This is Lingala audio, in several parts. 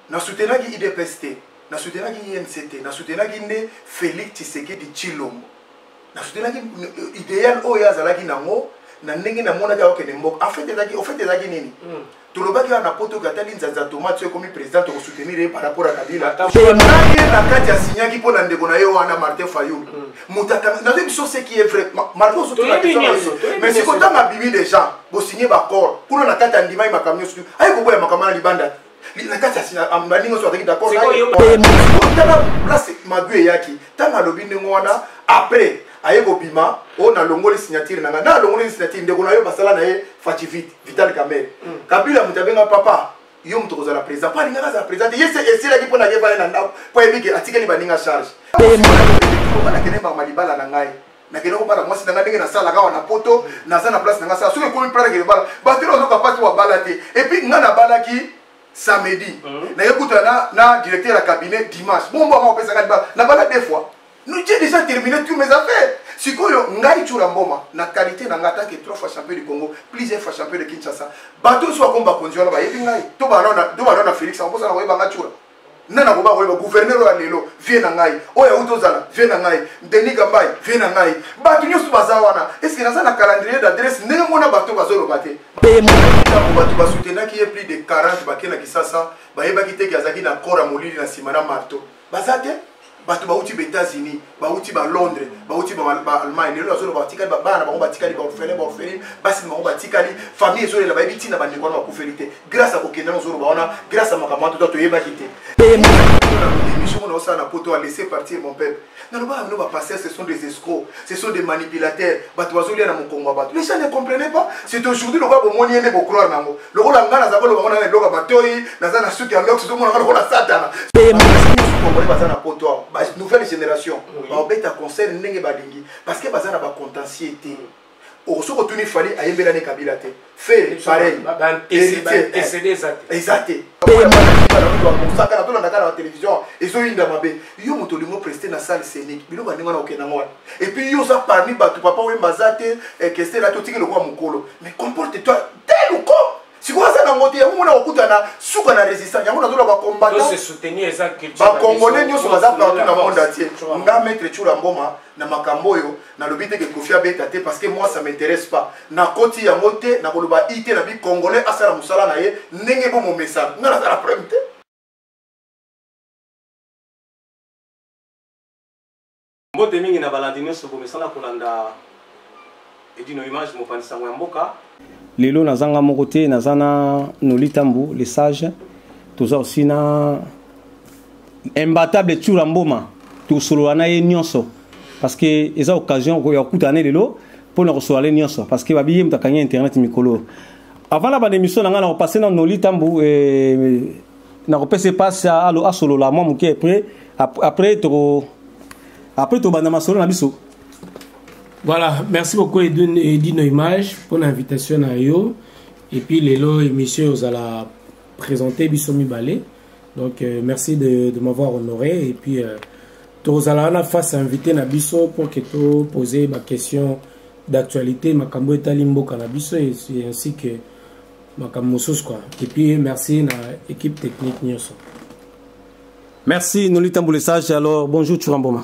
Na soutenaki IDPS te, na soutenaki INC te, na soutenaki nde Felix Tshisekedi Tshilombo. Na soutenaki euh, ideal oyo azalaki nango na ndenge namonaki akokende mboka. En fait ezaki, au fait ezaki nini? Mm. tolobaki wana na poto ke atali nzanza tomate soki ekomi président tokosoutenir ye par rapport ya kabila tonaye na kati asignaki mpo na ndeko na ye wana martin fayul mm. moto akangi nazoyebi biso ce qui est vrai malgré ozomais siko ntango abimi déjà bosigne baccord kuna na kati andimai makambo nyonso tu aye koboya makambo na libanda na kati baninga nyonso azalaki daccordtala place magu eyaki ntango alobi ndenge wana après aye kobima oyo oh, nalongoli signature na ngai na alongoli signature ndeko na yo basala na ye fativite vital camere hmm. kabila moto abenga papa yo moto kozala président mpo alingaka azala président te ye se esilaki mpo na ye vale na ndako mpo ayebi ke atikeli baninga charge nakende mbama libala na ngai nakende kobala mwasi na ngai ndenge nasalaka awa na poto naza na place na ngai sala soki ekomi plan nakende bala bato ena ozoka mpasi babala te epuis ngai nabalaki samedi mhm. naye kutana na directeur ya cabinet dimanche bombo yango opesaka libala nabala deux fois Nous j'ai déjà terminé tous mes affaires. Sikoyo ngai chura mboma na qualité na ngata que trois fois champion du Congo, plusieurs fois champion de Kinshasa. Bato soit combat konzi wana ba yebi ngai. To ba na to ba na Felix en posa na koyeba ngai chura. Nana koba koyeba gouverneur oyo lelo vie na ngai. Oyo auto zala vie na ngai. Denis Gambai vie na ngai. Bato nyoso baza wana. Est-ce que naza na calendrier d'adresse ndenge mona bato bazoloba te. Pema. Bato ba soutenaki ye plus de 40 bakena kisasa. Bayebaki te ke azaki na kora molili na sima na marteau. baza te bato bauti baétats-unis bauti balondres bauti baalemagne lelo bazoloba batikali babana na bango batikali baorphelin baorpheline basi na bango batikali famille ezolela bayebi ntina bandeko wana bakufeli te grâce ya kokende na ozoloba wana grâce ya makambo wana tota toyebaki te émission mona osala na poto alese partir mon peuple nalobaka bino bapasteur ce sont des escrocs ce sont des manipulateurs bato bazolia na mokongo ya bato les gens ne comprenaient pas c'est aujourd'hui lokola bomoni ye nde bocroire na yango lokola ngai naza koloba ngo nanga eloko ya matoi naza na suki ya lox ozomonaka lokola satana congolais baza na poto awa ba nouvelle génération baobeta concert ndenge balingi parce que baza na bacontentier te osoki otuni fali ayembelani kabila te fere pareil heritier eza te mosaka na tolanda kaka na télévision ezoyinda mabe yo moto olingo preste na salle scénique biloko ya ndenge wana okenda yango wana epuis yo oza parmi bato papa oyemba aza te eh, kester ati otiki lokola mokolo mais comporte toi tel ou comme sikoyo aza na ngote yango mona kokutana suka na résistance yango nazoloba bakombatbakongolais nyonso baza partout na monde atie nga maître tshula mboma na makambo oyo nalobi te ke kofi abeta te parce que moi ça m'intéresse pas nakoti yango te nakoloba i te na bi congolais asala mosala na ye ndenge bomomesana nga naza na problème te mbote mingi na balandi nyonso bomesana kolanda edino image mopanzi sango ya mboka lelo naza nga moko te naza na nolitambu le sage toza osi na imbatable tsura mboma tosolola na ye nyonso parce que eza occasion ya kokutana ne lelo mpo na kosolola le nyonso parce que babiye moto akangi internet mikolo avant na banda émission na ngai na kopase na noli ntambo eh, na kopesa epasi asolola mwa moke après après toko après tobanda masolo na biso voilà merci beaucoup edino image mpo na invitation na yo et puis lelo émission ozala présente biso mibale Donc euh, merci de, de m'avoir honoré et puis euh, tozala wana face à invité na biso pour que to poser ma question d'actualité makambo etali mboka na biso et ainsi que makambo mosusu quoi et puis merci na équipe technique nyonso merci nolitambule sage alors bonjour churamboma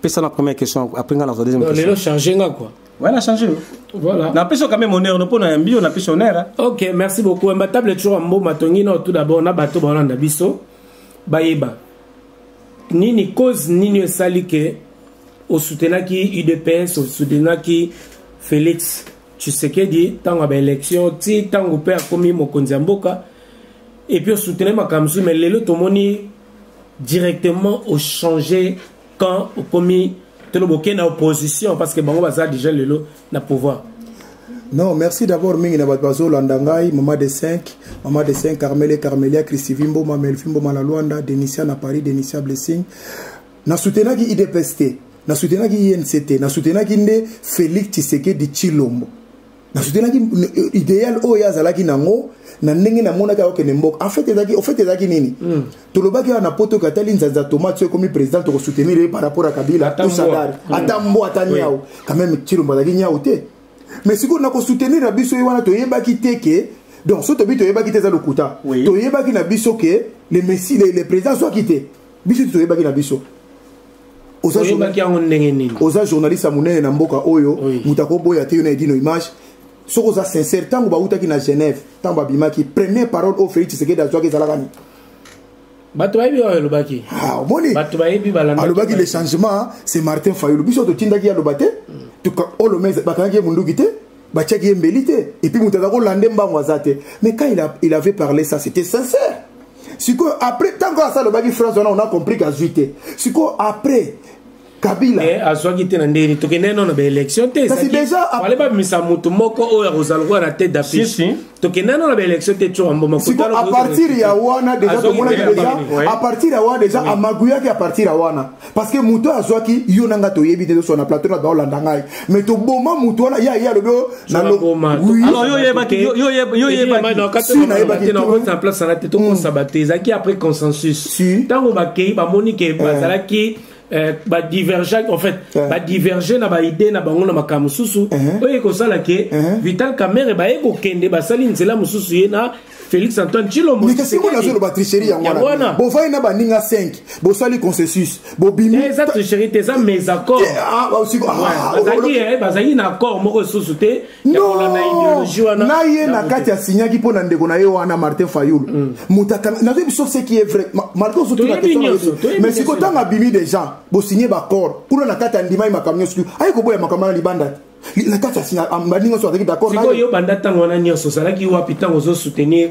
pesa na première question après nga na zwa deuxième question lelo changer nga quoi Ouais, on a changé. Voilà. On a pris quand même honneur, on a un bio, on a pris honneur. Hein. Ok, merci beaucoup. Un table est toujours un bon matongino. Tout d'abord, on a bateau, on a biso. Bayeba. Nini cause, nini esali que au soutenaki UDPS, au soutenaki Félix Tshisekedi, tant à l'élection, ti tant au père comme mokonzi mboka. Et puis au soutenaki makamzu, mais lelo tomoni directement au changer quand au commis toloboke na opposition parce que bango baza déjà lelo na pouvoir non merci d'abord mingi na bato bazolanda ngai mama de 5 mama de 5 carmele carmelia christivi mboma melfi mboma na luanda denisia na paris denisia blessing na soutenaki idps te na soutenaki inc te na soutenaki nde félix tshisekedi tshilombo nasoutenaki euh, idéal oyo ye azalaki nango na ndenge namonaki akokende mboka enfait ezalaki ofait ezalaki nini mm. tolobaki awa na poto oyo atali nzanza tomate soki ekomi président tokosoutenir ye par rapport ya kabila to sadari mm. ata mbo ata niau quand même cilombo azalaki niau te mais sikoyo nakosoutenir na biso ye wana toyebaki te ke donc so tobi toyebaki te eza lokuta toyebaki na biso ke le messi le, le président azwaki te biso te toyebaki na biso oyebaki yango ndenge nini oza journaliste ya monene na mboka oyo moto akoboya te yo na edino image soki oza sincère ntango bautaki na genève ntango babimaki première parole oyo félix tshisekedi azwaki ezalaka nini bato bayebi oyo elobaki ah, omoni bato bayebi alobaki le changement c'est martin fayulu biso totindaki ye aloba te olome bakangaki ye monduki te batiaki ye mbeli te epuis moto aza kolande mbango aza te mais quand il, a, il avait parlé ça c'était sincère sikoyo après ntango asa alobaki france wana ona compris kazwi te sikoyo après kabila eh, azwaki te na ndenge nini tokendeki nano na baélection te kasi déjà babimisa moto moko oyo akozala lokola na tete d'affiche tokenda no na baélection te tsoka mboma sikoyo à partir ya wana deja tomonaki deja à partir ya wana deja amaguyaki à partir ya wana parce que moto oyo azwaki yo na ngai toyebi te tosona plateau na baolanda ngai mais toboma moto wana ye aye alobi oyo nalosi nayebaki na place wana te tokosaba te ezalaki après consensus ntango bakei bamoni ke bazalaki Eh, badivergent en fait eh. badiverge na baide na bango na makambo mosusu eh. oyo ekosala ke vital camere baye kokende basali nzela mosusu ye na félix antoine tshilombo mais kasi ngona azoloba tricherie yango wana bovai na baninga 5 bosali consensus bobimi eh, eza tricherie te eza mes accords eh, ah, ah, ah, bazalaki eh, na accord moko lisusu te na ye na kati asignaki mpo na ndeko na ye wana martin fayulu mm. motakana nazo biso ce qui est vrai martin ozotuna mais siko ntango abimi déjà bosigne baccord kuna na kati andimaki makambo nyonso aye koboya makambo wana libanda te na kati baninga nyonso azalaki d'accord yo banda ntango wana nyonso ozalaki wapi ntango ozosoutenir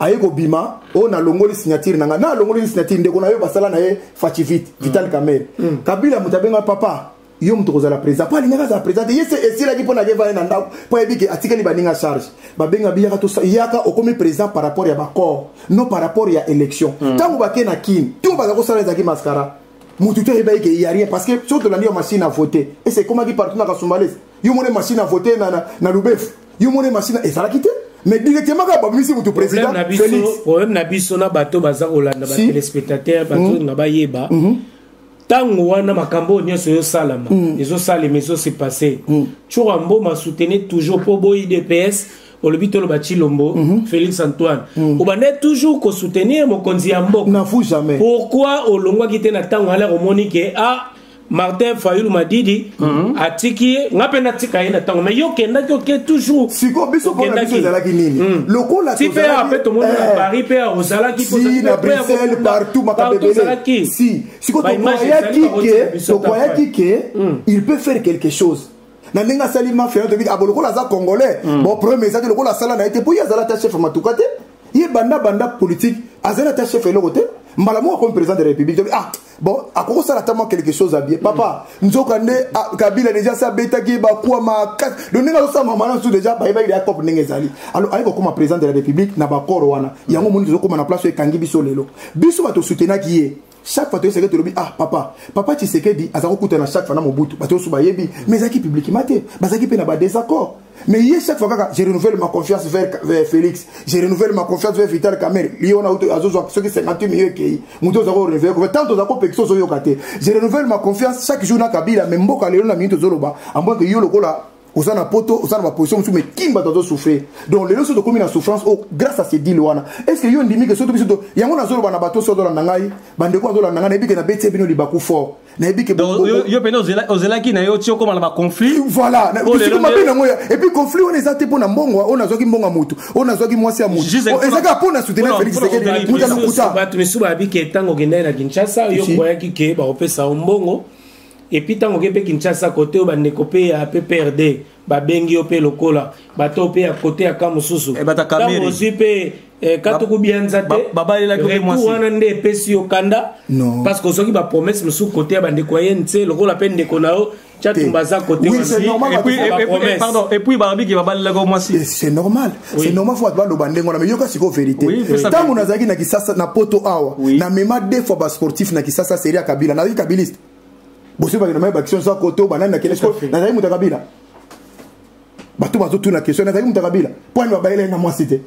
aye kobima oyo nalongoli signature na ngai na alongoli signature ndeko na yo basala na ye fachivite mm. vital kamere mm. kabila moto abenga papa yo moto kozala président mpo alingaki azala président te ye se esilaki mpo nake vaye na ndako mpo ayebi ke atikeli baninga charge babenga biyaka to yaka okomi président par rapport ya baccord non par rapport ya élection mm. ntango bake na kin to baza kosala ezalaki mascara moto te ayebaki ke ya rien parce que soki tolandi yo machine à voter ese ekomaki partout na kasumbalese yo mone masina avote na, na, na lubefu yo mone masina ezalaki te mais directement kaka babimisi motu président félix problème na biso na bato baza kolanda batelespectateur bato hmm. na bayeba hmm. ntango wana makambo oyo nyonso ezosalama hmm. ezosalema ezose passe tshura mboma soutenir toujours mpo bo idps olobi toloba chilombo mm -hmm. félix antoine mm -hmm. obandai toujours kosoutenir mokonzi ya mboka pourquoi olongwaki te na ntango alere omoni ke a ah, martin fayulu madidi mm -hmm. atiki ye nga mpe natika ye na ntango mai yo okendaki oke toujours siko biso mpona biso ezalaki nini mm. lokola ti mpe ape tomoni na eh. paris mpe ozalaki si na bruxelles partout makambo ebele si siko tokwayaki ke tokwayaki ke mm. il peut faire quelque chose na ndenge asali mafia yo toyebi abo lokola aza congolais mm. bon problème eza te lokola asala na ye te mpo ye azala ata chef matuka te ye banda banda politique azali ata chef eloko te mbala moko akomi président de la république tobi ah bon akoki kosala ata mwa quelque chose abie papa mm. nzoka nde ah, kabila déjà se abetaki ye bakwa makasi lo ndenge azosala mama na nsusu déjà bayebaki ya cope ndenge ezali alors aye kokoma président de la république na bakoro wana yango omoni tozokoma na place oyo ekangi biso lelo biso bato osutenaki ye chaque fois toyeseke tolobi ah papa papa tshisekedi aza kokutana chaque fois na mobutu bato nyonso bayebi mais ezalaki publiquement te bazalaki mpe na badésaccord mais ye chaque fois kaka je renouvelle ma confiance vers, vers félix je renouvelle ma confiance vers vital camere ye wana uto azozwa soki 58 million ekei moto oza korenouveler confiance tant oza kopekisa ozoyoka te je renouvelle ma confiance chaque jour na kabila mais mboka lelo na mingi tozoloba amboke yo lokola oza na poto oza na baposition mosusu mais kin bato azosouffrir donc lelo so tokomi na souffrance oyo oh, grâce à cedile wana est ce que yo ondimi ke soto biso yango nazoloba na bato so azolanda ngai bandeko azolanda ngai nayebi ke nabetie bino libaku fort nayebi ke yo pene ozelaki na yo ti okoma na baconflit voilà bisiko mabe nango ya epuis conflit wana eza te mpo na mbongo oyo nazwaki mbongo ya motu oyo nazwaki mwasi ya motu oh, eza kaka mpo na soutenir félix sekedi muta lokuta bato misusu bayebi ke ntango okendaki na kinshasa yo okoyaki ke bakopesa yo mbongo epuis ntango oke mpe kinshasa kote oyo bandeko mpe ya pprd babengi yo mpe lokola bato mpe ya kote ya ka mosusu eh, ntango ozwi mpe eh, katuku bianza te retour wana nde epesi yo kanda parce que ozwaki bapromese mosusu kote ya bandeko ya ye nse lokola mpe ndeko na yo chatumba aza kote wana epuis balobi ke babalelaka mwasi c'est normal c'est normal faut ba loba ndengo na mais yoka siko vérité tango nazaki na kisasa na poto awa na mema deux fois ba sportif na kisasa seria kabila na kabiliste bosi ba na mai baction sa koto banani na kelesko na zaki muta kabila bato bazotuna question nazalaki moto ya kabila mpo ani babayela ye na mwasi te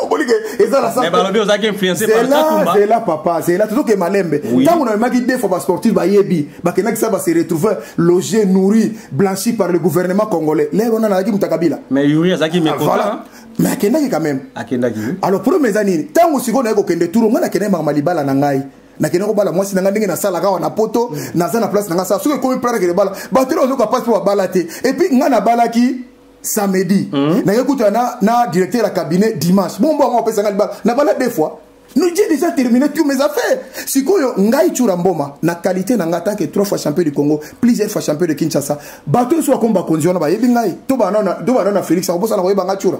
okolike eza na sabalobi ozalaki influencezela papa zela tozokee malembe ntango namemaki defo basportif bayebi bakendaki sa base retrouver loge nourri blanchi par le gouvernement congolais lelo wana nazalaki moto ya kabila mais yuri azalaki mekola mais akendaki quand même akendaki alors problème eza nini ntango sikoyo naye kokende turo ngai nakendaki maka malibala na ngai nakende kobala mwasi na ngai ndenge nasalaka awa na poto mm. naza na place na ngai sala soki ekomi plan nakende bala bato elo ozoka place mpo babala te epuis ngai nabalaki samedi mm. naye kuta na, na directeur ya cabinet dimanche bombo yango apesanga libala nabala deux fois Nous j'ai déjà terminé tous mes affaires. Sikoyo ngai chura mboma na qualité na ngata que trois fois champion du Congo, plusieurs fois champion de Kinshasa. Bato so komba konzi wana ba yebi ngai. To ba na do ba na Felix akobosa na koyeba ngai chura.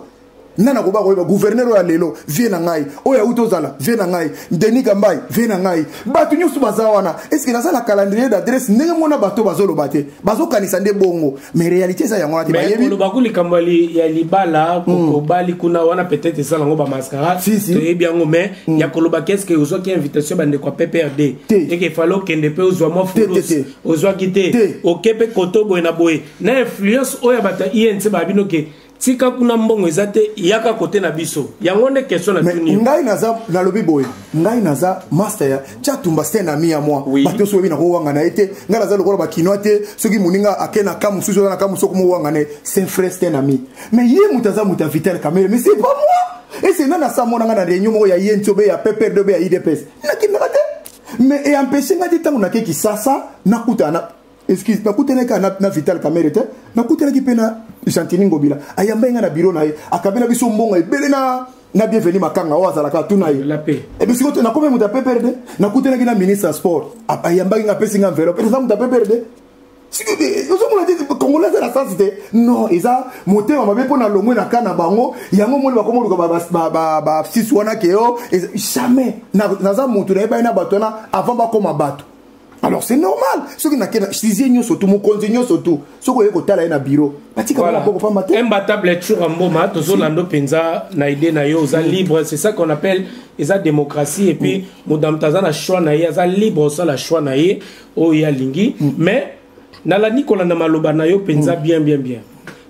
Nana koba koyeba gouverneur ya lelo vie na ngai. Oya uto zala vie na ngai. Denis Kambai vie na ngai. Bato nyoso baza wana. Est-ce que naza na calendrier d'adresse ndenge mona bato bazoloba te? bazokanisa nde bongo mais réalité eza yango wana te bayebikoloba ku likambo ya libala hmm. kokobali kuna wana peut-être eza nango bamascara toyebi yango mais hmm. ya koloba keske ozwaki invitation bandeko ya pprd eke fale okende mpe ozwa mwa fulus ozwaki te oke mpe koto boye na boye na influence oyo ya bato ya inc baya bino ke tika kuna mbongo eza te yaka kote na biso yango nde question na tuni ngai naza nalobi boye ngai naza master ya chatumba c'est ami ya moi oui. bato soki na kowanga na ye te ngai naza lokola bakinois te soki moninga ake na kamu susu aza na kamu soki mowanga na ye c'est frère c'est ami mais ye moto aza moto ya vital kamere mais c'est pas moi ese nani asamona ngai na réunion moko ya ye nti obe ya pprd obe ya idps nakendaka te mais eempeshe ngai te ntango nake kisasa nakutana excuse nakutanaki kaka na, na vital kamere te nakutanaki mpe na gentini ngobila ayambai ngai na biro na ye akabela biso mbongo ebele na na bienvenu makanga oyo azalaka tuna ye ebisiko eh, nakomi moto ya pprd nakutanaki na ministre ya sport ayambaki ngai apesi ngai enveloppe eza moto ya pprd ozomona te congolais aza na sansi te non eza motema mabe mpo na longwe na ka na bango yango omoni bakoma oluka bafsisi wana ke yo jamais naza motu nayebani na bato wana avant bakoma bato alors c'est normal soki nakenda sizie nyonso tu mokonzi nyonso tu soki oye kotala ye na biro batika bana boko pamba te imbatable ya tshura mboma tozolando mpenza na idée na yo oza mm. libre c'est ça qu'on appelle eza démocratie et puis moto mm. na moto aza na choix na ye aza libre osala choix na ye oyo ye alingi mm. mais nalandi kolanda maloba na yo mpenza bien bien bien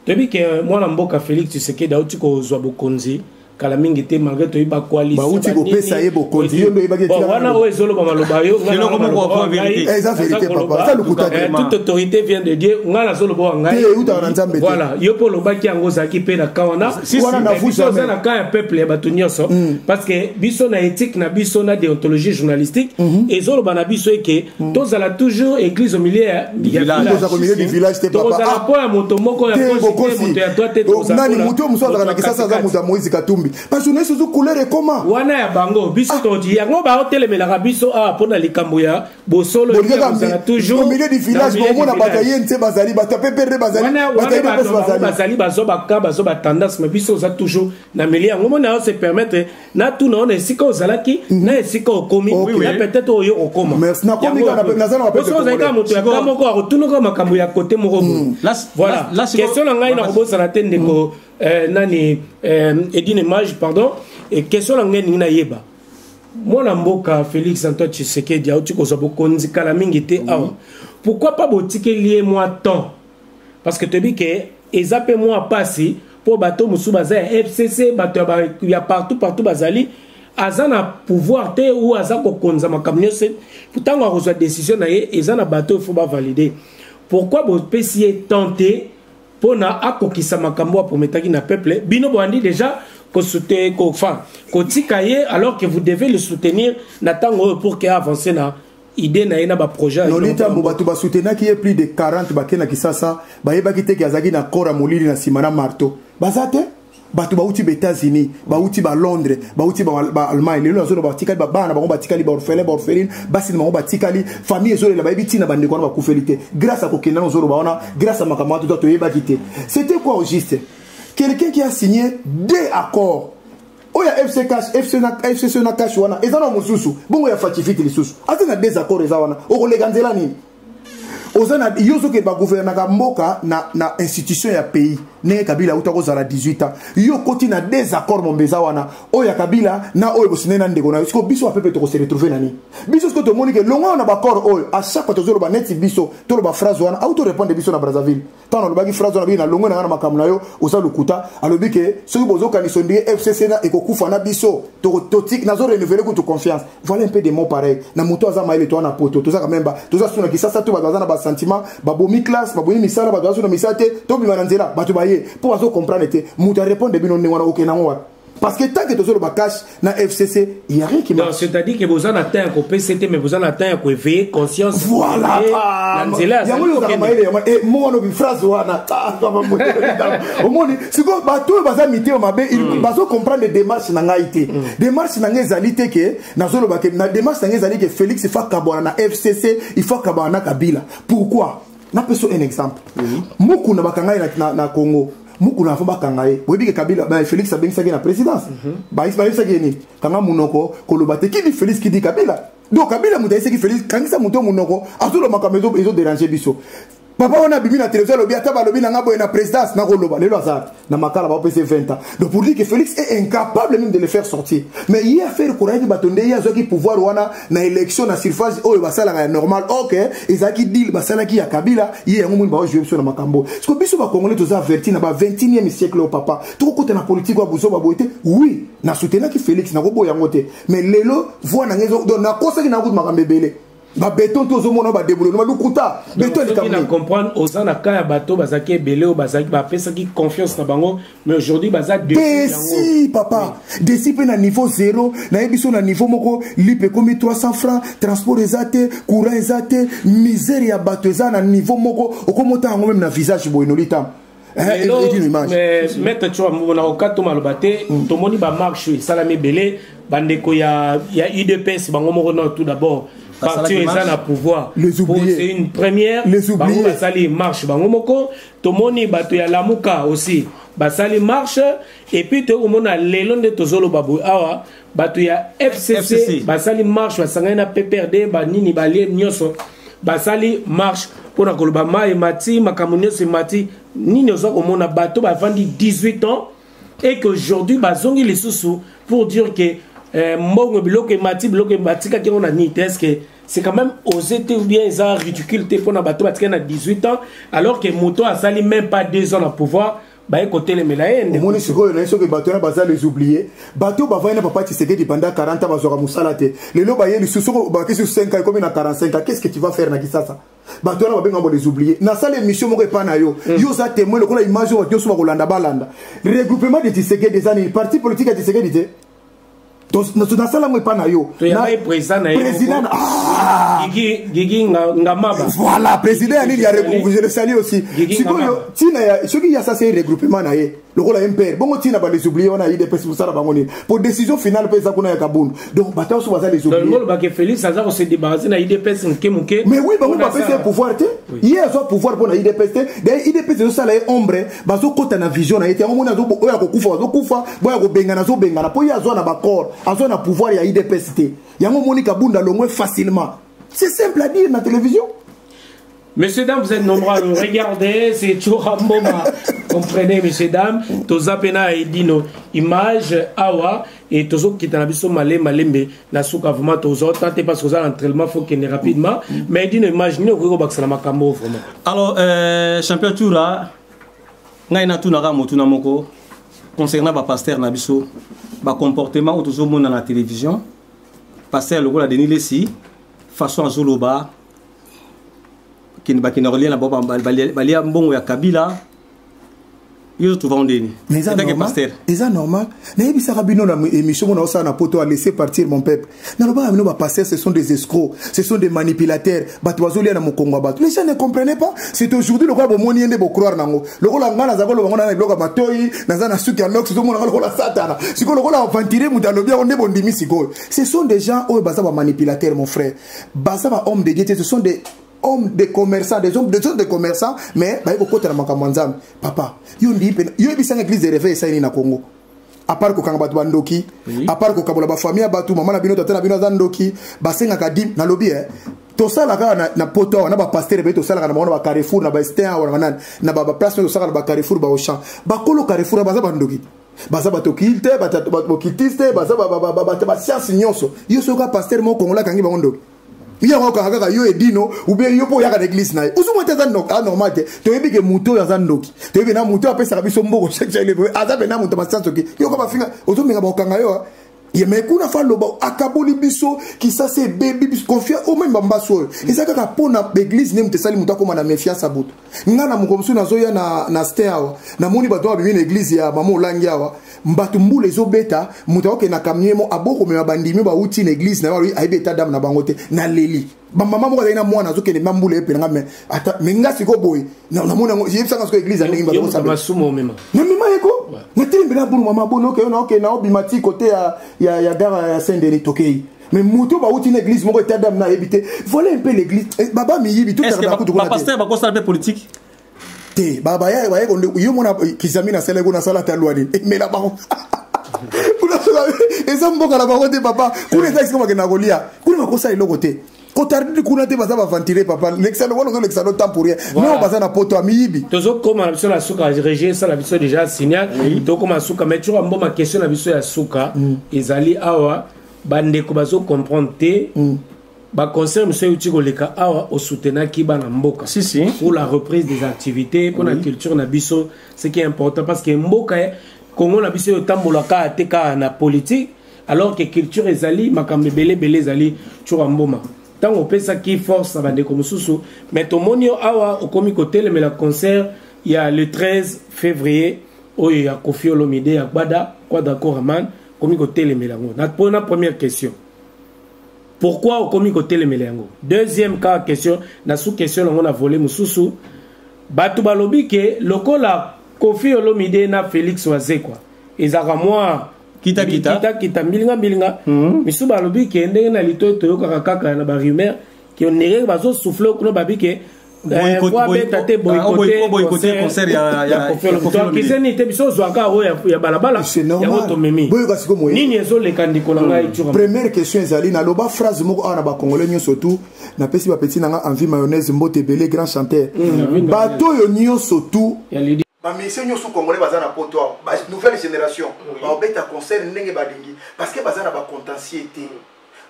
toyebi ke mwana mboka félix tshisekedi auti kozwa bokonzi kala mingi te malgré toyebi bakoalisbauti kopesa ye bokonzi yo nde oyebakwana oyo ezoloba maloba yo eza verité papa eza lokuta te eh, toute autorité vient de dieu ngai nazoloba wa ngai eutaka na nzambe voilà yo mpe olobaki yango ozalaki mpe na ka wana biso oza na ka ya peuple ya bato nyonso mm. parce que biso na éthique na biso na déontologie journalistique mm-hmm. ezoloba na biso eke Mm. tozala toujours église au milieu ya villagetozala mpo ya moto moko ya moto ya toi te nani moto mosusu azalaka na kisasa aza moto ya moïse katumbi bajournaliste ozo couleur ekoma wana ya bango biso ah. todi yango baotelemelaka biso awa ah, mpo na likambo ya bosolozala toujours milieu du village baomona bato ya ye nse bazali bato ya peperde bazalibazali bazoba ka bazoba tendance ma biso oza toujours na milieu yango mona yo se permettre natuna yo na esika ozalaki mhm. na esika okomi na peut-être oyo okoma oso ozali kaka moto ya ka moko akotunaka makambo ya kote moko boye mhm. voilà question na ngai nakobosana te ndeko mhm. euh, nani euh, edine mage pardon question na ngai elingi nayeba mwana mboka félix antoine tshisekedi auti kozwa bokonzi kala mingi te awa pourquoi pas botikeli ye mwa temps parce que toyebi ke eza mpe mwa mpasi mpo bato mosusu baza ya fcc bato ya partout partout bazali aza na pouvoir te ou aza kokonza makambo nyonso ntango akozwa décision na ye eza na bato oyo fo bavalide pourquoi bopesi ye temps te mpo na akokisa makambo aprometaki na peuple bino boyandi déjà kosute kofa kotika ye alors que vous devez le soutenir na ntango oyo pour ke avance na idée na ye na baprojet noli ntango bato basutenaki ye plus de 40 bake na kisasa bayebaki te ke azalaki na kora molili na nsima na marto baza te bato bauti ba états-unis bauti ba londres bauti baalemagne lelo nazoloba batikali babana na bango batikali baorphelin baorpheline basi na bango batikali famille ezolela bayebi ntina bandeko wana bakufeli te grâce ya kokenda na ozoloba wana grâce ya makambo wana tota toyebaki te c'était quoi au juste quelqu'un qui a signé deux accords oyo ya fc cash fc na fcc na cash wana eza na mosusu bongo ya fatifiti lisusu aza na désaccord eza wana okoleka nzela nini oza na yo soki bagouvernaka mboka na, na institution ya pays ndenge kabila auta kozala 18 ans yo okoti na désaccord mombe eza wana oyo ya kabila na oyo bosine na ndeko na yo siko biso bapepe tokose retrouve nani biso siko tomoni ke longoyo na baccord oyo a chaque fois tozoloba neti biso toloba phrase wana auto répondre biso na brazzaville ntango nalobaki phrase wana biki nalongwe na ngai na makambo na yo oza lokuta alobi ke soki bozokanisa ondire fcc na ekokufa na biso nazo renouvele kutu confiance voilà un peu de mot pareil na moto aza mayele toa na poto tozaka memba toza suna kisasa to bato baza na basentiment babomi classe babomi misala bato baza suna misala te tobima na nzela bato baye mpo bazo comprendre te moto arepondre bino ndenge wana okende yango wapi parce que tant que tozoloba cash na fcc il y a rien qui marche. c'est à dire que boza na temps ya kopesa te mais boza na temps ya koéveiller conscience voilà na nzela yango ezalaka mayele yango e mo wana obi phrase wana omoni sikoyo bato oyo baza mitema mabe mm. bazo comprendre démarche na ngai te mm. démarche na ngai ezali te ke nazoloba ke na démarche na ngai ezali ke félix ifa kabwana na fcc ifa kabwana na kabila pourquoi napesa un exemple mukuna bakanga ye na congo mukuna afo bakanga ye boyebi ke kabila félix abengisaki na présidence mhm. bayebisaki ye nini kanga monoko koloba te kidi félix kidi kabila donc kabila moto ayesaki félix kangisa moto monoko azoloba makambo ezoderange biso papa wana abimi na télévision alobi ata balobi na nga boye na présidence nakoloba lelo aza na makala bapese 20 ans donc pour dire que félix est incapable même de le faire sortir mais ye affaire korayaki bato nde ye azwaki pouvoir wana na élection na surface oyo basalaka ya normal ok ezalaki deal basalaki ya kabila ye yango moni baojoue biso na makambo siko biso bacongolais toza averti na ba 21e siècle oyo papa tokokota na politike ya buzoba boye te oui na soutenaki félix nakoboya yango te mais lelo voi na ngai donc nakosaki nakuti makambo ebele babeton te ozomona badebule noma lukuta beton likamna comprendre oza na ka ya bato bazalaki ebele oyo bazalaki bapesaki confiance na bango mais aujourd'hui baza desi papa desi mpe na niveau zero naye biso na niveau moko lipe ekomi 300 francs transport eza te courant eza te misère ya bato eza na niveau moko okomota yango meme na visage boye nolita Eh, lelo maître tshoa mona okato maloba te mm. tomoni bamarche esalami ebele bandeko ya udps bango moko no tout d'abord parti oyo eza na pouvoir c'est une première bango basali marche bango moko tomoni bato ya lamuka aussi basali marche epuis toyei komona lelo nde tozoloba boye awa bato ya fcc, FCC. basali marche basangani na pprd banini balie nyonso basali marche mpo na koloba mai emati makambo nyonso emati nini oza komona bato bafandi 18 ans et qu'aujourd'hui bazongi lisusu pour dire que eh, mbongo biloko emati biloko batikaki yango na nini te est que c'est quand même osé te ou bien eza ridicule te mpo na bato batikaki na 18 ans alors que moto asali même pas 2 ans na pouvoir baye kotelemela ye nde omoni sikoyo naye soki bato wana baza les oublier bato bavandi na papa tshisekedi banda 40 ans bazwaka mosala te lelo baye lisusu soki obaki lisusu 5 ans ekomi na 45 ans qu'est-ce que tu vas faire na kisasa bato wana babenga bo les oublier nasala émission moko epai na yo mm. yo oza témoin lokola image oyo bato nyonso bakolanda balanda regroupement de tshisekedi eza nini parti politique ya tshisekedi te nasala yango epa na yo voilà président ya nini ya je le salie aussi sikoyo ntina ya soki ya sasa ye regroupement na ye lokola ye mpere bongo ntina balesoublie wana idps mosala bango nini po décision finale mpe eza kuna ya kabundu donc bato nyonso baza lesoublie félix aza kose débarrasse na idps moke moke mais oui bango bapesi ye pouvoir te ye azwa pouvoir mpo na idps te d'ailleurs idps ezosala ye ombre bazokota na vision na ye te yango moni oyo akokufa bazokufa boyo akobengana azobengana mpo ye azwa na bacor azwa na pouvoir ya idps te yango omoni kabunda longwe facilement c'est simple à dire na télévision Messieurs, dames, vous êtes nombreux à nous regarder. C'est Choramboma. Comprenez, messieurs, dames. Tozapena et Dino. Image, Awa. et tozo kita na biso male malembe na suka vraiment tozo tante parce que oza entraînement faut kende rapidement mais dino image nini okoki kobakisa na makambo vraiment alors euh, champion toura ngai natunaka motuna moko concernant bapaster na biso bacomportement oyo tozomona na télévision paster lokola denis lesi façon azoloba bakenda kolia na bango balia mbongo ya kabila yo ozotuva ondeni etake paster eza normal nayebisaka bino na émission mona osala na poto alaisser partir mon peuple nalobaka bino bapaster ce sont des escrocs ce sont des manipulateurs bato bazolia na mokongo ya bato les gens ne comprenez pas c'est aujourd'hui lokola bomoni ye nde bocroire nango lokola ngai naza koloba ngo na biloko ya matoi naza na suki ya nox ozomonaka lokola satana sikoyo lokola aventurier moto alobi yango nde bondimi sikoyo ce sont des gens oyo baza bamanipulateurs mon frère baza bahomme de dieu te ce sont des homme de commerçant des hommes des hommes de commerçant mais baye kokota na makambo ya nzambe papa yo ndii mpe yo yebisanga église de réveil esalini na congo apart kokanga bato bandoki apart kokabola bafamille ya bato mama na bino tata na bino aza ndoki basengaka dime nalobi e tosala kaka na, na poto awa na bapastere mpe tosalaka na bango na bacarrefour na baestin awa na banani na baplace oyo tosalaka na bacarrefour baochan bakolo carrefour awa baza bandoki baza batokili te bokitisi te baza basianse nyonso yo soki ka pastere moko kongola akangi bango ndoki ye yango okanga kaka yo edino ubie yo mpo oyaka na eglise na ye ozomwa te aza anormal te toyebi ke moto oyo aza ndoki toyebi na moto oyo apesaka biso mboko chakeleve aza mpe na moto masianso ki yoko bafinga ozomenga bakokanga yo ye me kuna fa aloba akaboli biso kisasa ebebi biso confia omeme bambaso oyo eza kaka mpo na baeglise nde moto esali moto akóma na méfiance ya boto nga na mokolo mosusu nazoya na, na stin awa namoni bato oyo babibi na eglize ya mama olangi awa bato mbula ezobeta moto akoke na kamie mo abokomema bandimi bauti na eglize na yo alobi ayebi eta dame na bango te naleli bamama moko azali na mwana azokende ma mbula epela nga me ata me nga sikoyo boye namoni yango yebisanga sikoyo eglize ya ndenge bato kosala namema yeko natelembela bulu mama bonoke yo naoke naobima ti kote ya, ya, ya gara ya sendeni tokei mais moto bauti na église moko etat dame na ayebi te voilà un peu l'église eh, baba miyibi totapasteur bakosala mpe politique te babaya baye konde yo mona eh, kizami nasala eko nasala ta lwa nini emela eh, bango eza mboka na bango te papa kuna eza esika bakenda kolia kuna bakosala eloko te kotardidi kuna te baza baventire papa lekisano wana ozolekisa no temps pour rien nao baza na poto ya miyibi tozokoma na biso na suka regie esala biso déjà signal tokoma na suka mais tyoka mboma question na biso ya suka mm. ezali awa bandeko bazo comprendre te mm. baconcert mosusu euti koleka awa osoutenaki bana mboka si, si. pour la reprise des activités mpo na oui. culture na biso ce qui est important parce que mboka congo na biso etambola kaka te kaka na politique alors que culture ezali makambo ebele ebele ezali tshura mboma ntango opesaki force na bandeko mosusu mais tomoni yo awa okomi kotelemela concert ya le 13 février oyo ya kofi olomide ya gbada quadra coraman okomi kotelemela yango na pona première question pourquoi okomi kotelemela yango deuxième cas question na sous question nango na volet mosusu bato balobi ke lokola kofi olomide na félix wazekwa ezalaka mwa kita kita kita kita mbilinga mbilinga mm -hmm. misusu balobi ke ndenge na litoyi toyokaka kaka na barumeur Qui on dirait que bazo souffler kuna babi que beta te boykote concert ya tokiseni te biso ozwaka oyo ya balabala yango tomemi nini ezoleka ndeko na ngai hmm. première question ezali naloba phrase moko awa na bacongolais nyonso tu napesi bapeti na ngai envie mayonnaise mbote ebele grand chanteur hmm, bato oyo nyonso tu bamisie nyonso congolais baza na poto awa nouvelle génération baobeta concert ndenge balingi parce que baza na bacontentier te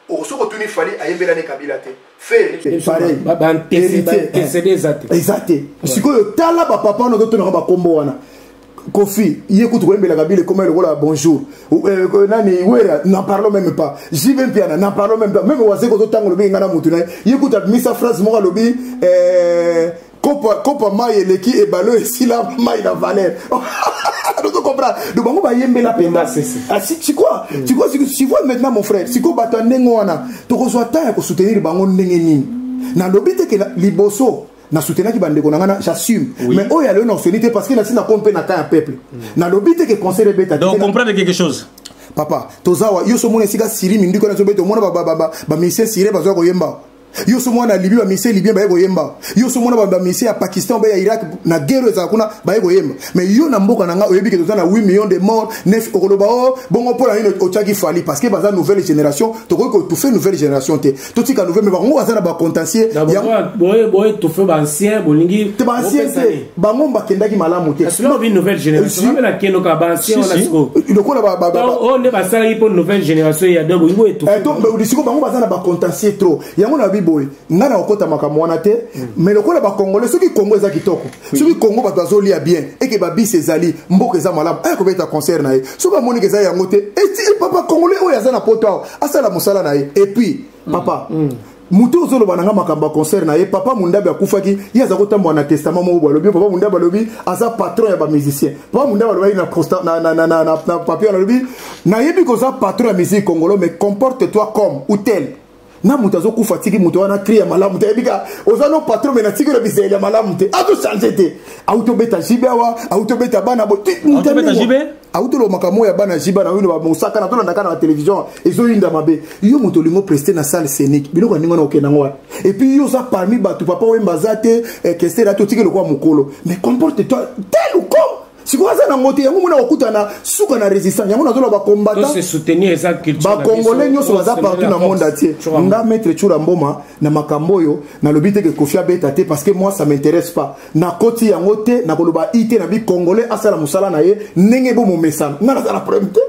soki otuni fali ayembela ne kabila te feeantecede eza te eza te sikoyo tala bapapa wana ozotonaka bakombo wana kofi ye kutu koyembela kabila ekoma lokola bonjour euh, euh, nani wera n'en parlons même pas jb mpiana n'en parlons même pas meme wazeko ozotanga olobi enga na motu na ye ye kutu abimisa phrase moko alobi euh, kopa kopa mai eleki ebale oyo esila mai na valeur ozo comprendre donc bango bayembela mpenza sikwa sikwa sikwa maintenant mon frère sikwa bato ya ndenge wana tokozwa temps ya kosoutenir bango ndenge nini nalobi te ke liboso na soutenaki bandeko na ngana j'assume oui. mais oyo aloyo na osoni te parce que nasi na kompe na cas ya peuple mm. nalobi te ke conseil ebeta donc comprendre quelque chose papa tozawa yo so mona esika siri minduki wana ezobeta omona bamisien sire bazoya koyemba yo so mwana libi bamise libien baye koyemba yo so mwana bamise ya pakistan obe ya irak na guerre ezala kuna baye koyemba mais yo na mboka na ngai oyebi ke toza na 8 million de mort nef okoloba o oh, bongo mpo na nini otyaki fali parce que baza nouvelle génération tokoki kotufe nouvelle génération te totika nouvelle me bango baza na bacontentier boye tofe baancien bolingi te baancien te bango bakendaki malamu te lokola baolidisiko bango baza na bacontentier trop yango na babi boye ngai nakokota makambo wana te mm. mais lokola bakongole soki kongo eza kitoko soki kongo bato bazolia bien eke babisi ezali mboka eza malamu aya kobeta concert na ye soki amoniki eza yango te eti papa congolais oyo aza na poto awa asala mosala na ye epuis papa mm. Mm. moto ozoloba na nga makambo ya concert na ye papa mondabi akufaki ye aza kotambola na testament moko balobi papa mondabi alobi aza patron ya bamusicien papa mondabi alobaki na papier wana alobi nayebi koza patron ya musique congolo mais comporte toi comme ou tel na moto azokufa atiki moto wana kri ya malamu te ayebi ka oza no patron me natiki na bizaleli ya malamu te azochange te auti obeta jibe awa auti obeta bana bo awuti oloba makambo oyo ya bana jiba na oyino bamosaka na tolandaka na batelevizio ezoyinda mabe yo moto olingo preste na salle scénique biloko ya ndenge wana okenda yango wana epuis yo oza parmi bato papa oyemba aza te eh, kestere ati otiki lokola mokolo mais comporte toi tel ou comme sikoyo aza nango te yango mona kokutana suka na résistance yango nazoloba bacombattantbakongolais nyonso baza partout na monde atie nga maître tshura mboma na makambo oyo nalobi te ke kofi abeta te parce que moi ça m'intéresse pas nakoti yango te nakoloba i te na bi congolais asala mosala na ye ndenge bo momesano ngai nazala problème te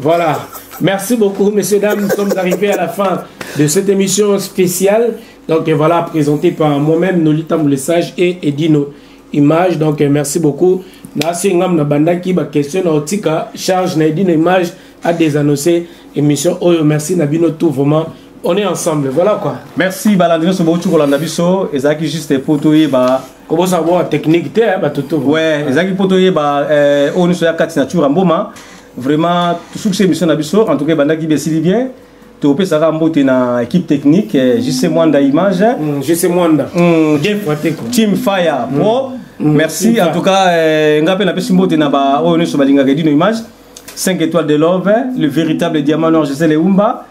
Voilà. Merci beaucoup, messieurs, dames. Nous sommes arrivés à la fin de cette émission spéciale. Donc voilà, présentée par moi-même, Nolita Moulessage et Edino Image. Donc euh, merci beaucoup. Nasi ngam na bandaki ba question na otika charge na Edino Image a désannoncé émission Oyo. Merci Nabino tout vraiment. on est ensemble voilà quoi merci balandi nyonso bouti kolanda biso ezalaki juste mpo toyeba kobosaka boa technique te eh, bato to ouais ezalaki mpo toyeba eh, oyo nyonso ya kati na tura mboma vraiment tosukisi émission na biso en tout cas ebandaki besili bien topesaka mbote na équipe technique eh, jc mwanda image mm, jc mwanda mm, team fire pro mm, merci en tout cas eh, nga mpe napesi mbote na baoyo oh, nyonso balingaka edino image 5 étoiles de love le véritable diamant noir jc leumba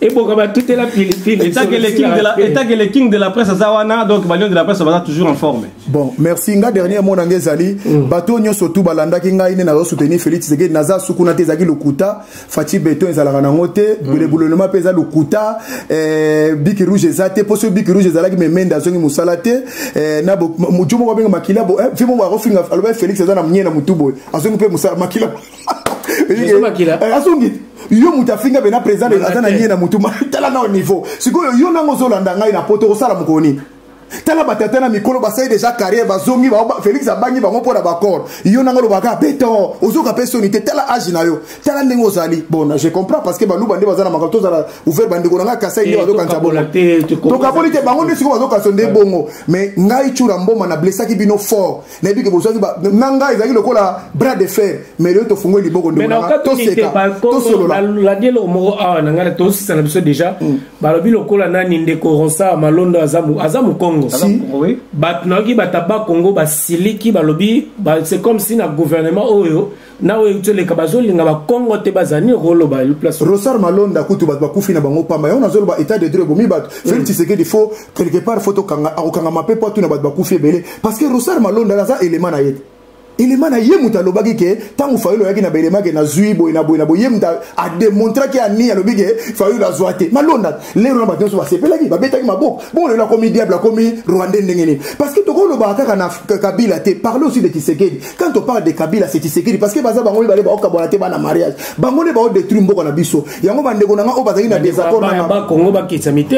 eboka batutela pilipili etake le king de la etake le king de la presse aza wana donc balion de la presse baza toujours en forme bon merci nga dernier mot na nga ezali mm. bato nyonso tu balandaki ngai nde nazo soutenir Félix Tshisekedi naza sukuna te ezalaki lokuta Fatshi Beton ezalaka nango te mm. bule boulonnement mpe eza lokuta eh, biki rouge eza te mpo soki biki rouge ezalaki memende azongi mosala te eh, na mojo moko abenga makila bo eh, fi moko akofinga aloba Félix aza na mnie na motu boye azongi mpe mosala makila eh, azongi yo moto afinga bena président aza na nie na motu tala nao niveau sikoyo yo nango ozolanda ngai na poto okosala mokolo nini tala batata na mikolo basali deja carrière bazongi félix abangi bango mpo na bacor yo nanga olobaka beton ozoka mpe soni te tala age na yo tala ndenge ozali bon je comprends parce que baluba nde baza na makambo tozala ouvert bandeko na ngai kasai nde eh, bazokanisa bongo tokaboli te bango nde sikoyo bazokanisa nde bongo mais ngai cura mboma na blessaki bino fort nayebi ke bozwaki na ngai ezalaki lokola bras de fer mais lelo tofungoli liboko ndotosekalandi eloko moko awa na ngai tosisa na biso déjà mm. balobi lokola nani ndeko ronsa malondo aza mokongo bato nayoki bato ya bakongo basiliki balobi c'est comme si na gouvernement oyo na oyo euti oleka bazolinga bakongo te bazali nini okoloba place rosar malonda kutu bato bakufi na bango pamba yango nazoloba état de droit ebomi bato mm. felix tshisekedi fo quelque part fo tokanga akokangama mpe mpo atuna bato bakufi ebele parce que rosar malonda aza élément na ye te elema na ye moto alobaki ke ntango fayulu oyaki na baelema ke nazwi boye na boye na boye ye moto ademontraki ya nini alobi ke fayulu azwa te malonda lero na bato nyonso basepelaki babetaki maboko bongo lelo akomi diable akomi rwandais ndenge nini parce que tokolobaka kaka na kabila te parle aussi de kisekedi quand on parle de kabila c'est tshisekedi parce que baza bango mibale baokabwana te bana mariage bango nde baodétruire mboka na biso yango bandeko na nga oyo bazalaki na désaccord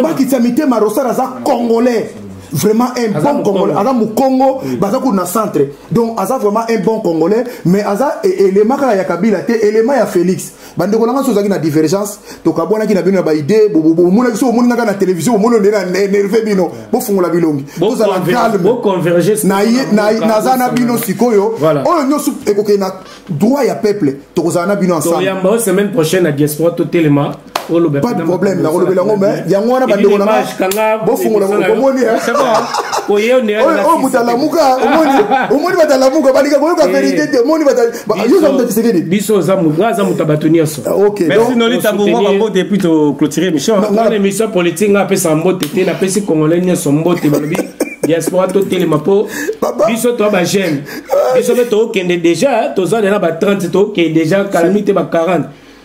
bakitisa mitema rosar aza congolais vraiment un bon congolais aza mokongo mm. baza kutu na centre donc aza vraiment un bon congolais mais aza e-, élément kaka ya kabila te élément ya félix bandeko na ngai so ozalaki na divergence tokabwanaki na bino na baide bomonaki so omoni ngaka na télévision bomoni nde na nerve bino bofungola bilongi tozala calme naza na bino sikoyo oyo nyonso ekokende na droit ya peuple tokozala na bino ensemble semaine prochaine na diaspora totelema pas de problème nakolobela yango me yango wana bandeko nanga bofungola omoni oyo moto alamuka omoni bato alamuka balinga koyoka verité te omoni Bah, biso oza nga aza moto ya bato nyonso merci nolita bongo bambote epui toclotire émission wana émission politique nga apesaka mbote te napesi congolais nyonso mbote balobi diaspora totelema mpo biso toa bageme biso mpe tokokende déjà toza lela ba 30 tokokende déjà kala mingi te ba 40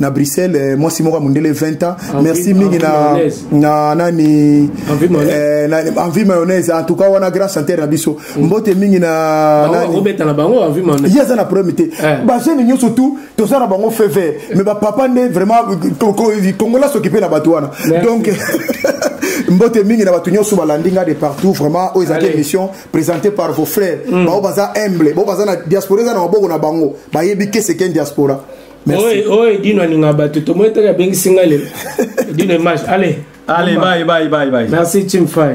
na bruxelles eh, mwasi moko ya mondele 20 ans merci mingi na, na nani eh, na, envie mayonnaise en tout cas wana grand chanteur na biso mm. mbote mingi na ye aza na problème te eh. bajeune nyonso tout toza na bango feu vert mais bapapa nde vraiment kongola soki mpe na bato wana donc mbote mingi na bato nyonso balandi nga de partout vraiment oyo ezalaki émission présenté par vos frères mm. bao baza humble bao baza na diaspora eza na maboko na bango bayebi keseken diaspora Merci. Oye, oye, Dino alinga bato. Tomo etaka bengi singa le. Dino image. Allez. Allez, bye, bye, bye, bye. Merci, Chimfai.